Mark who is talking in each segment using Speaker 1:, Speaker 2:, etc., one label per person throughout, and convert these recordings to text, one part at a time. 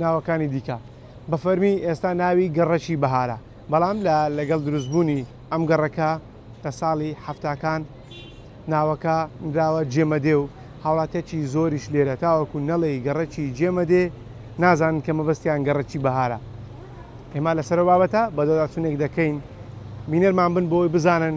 Speaker 1: ناوەکانی دیکە بە فەرمی ئێستا ناوی گەڕەکی بەهارە، بەڵام لە لەگەڵ دروستبوونی ئەم گەڕەکە لە ساڵی حەفتاکان ناوەکە نراوە جێمەدێ و هاوڵاتیەکی زۆریش لێرە تاوەکو نەڵێی گەڕەکی جێمەدێ نازانن کە مەبەستیان گەڕەکی بەهارە. ئێمە لەسەر ئەو بابەتە بەدواداچوونێک دەکەین بینەرمان بن بۆ ئەوەی بزانن.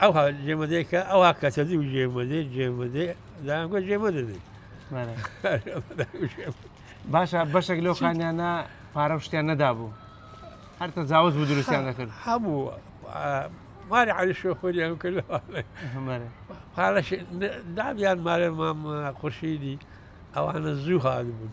Speaker 2: ئەوها جێمەدەێ کە ئەوها کەسە دی و جێمەدەێ جێمەدەێ دایانگوە جێمەدە دی
Speaker 1: باشە بەشێک لەو خانیانە پارە شتیان نەدابوو هەر تەجاوز بوو دروستیان دەکرد هەبوو
Speaker 2: ماری علی شۆفۆریان کرد پارەش دابیان مارێ مام خورشیدی ئەوانە زوو هاات بوون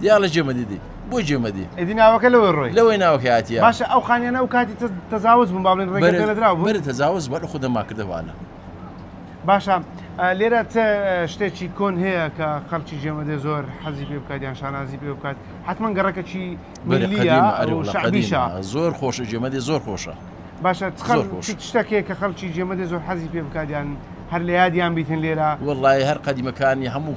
Speaker 3: دیا لە جێمە دیدی بۆ جێمە دی ئەدی ناوەکە لەوە ڕۆی
Speaker 1: لەوەی ناوەکە
Speaker 3: هااتە باشە ئەو خانیانە و
Speaker 1: کاتی تەزاوز بوون باڵێن ڕێگەدرا بوو تەزاوز بەر
Speaker 3: خودە ماکردەوانە باشە
Speaker 1: لێرە شتێکی کۆن هەیە کە خەڵکی جێمە دێ زۆر حەزی پێ بکات یان شانازی پێ بکات حتمما گەڕەکەکی زۆر خۆشە
Speaker 3: جێمە دێ زۆر خۆشە باشە
Speaker 1: شتەکێ کە خەڵکی جێمە دێ زۆر حەزی پێ بکات یان هەر لە یادیان بیتن لێرە وڵی هەر قەدیمەکانی
Speaker 3: هەموو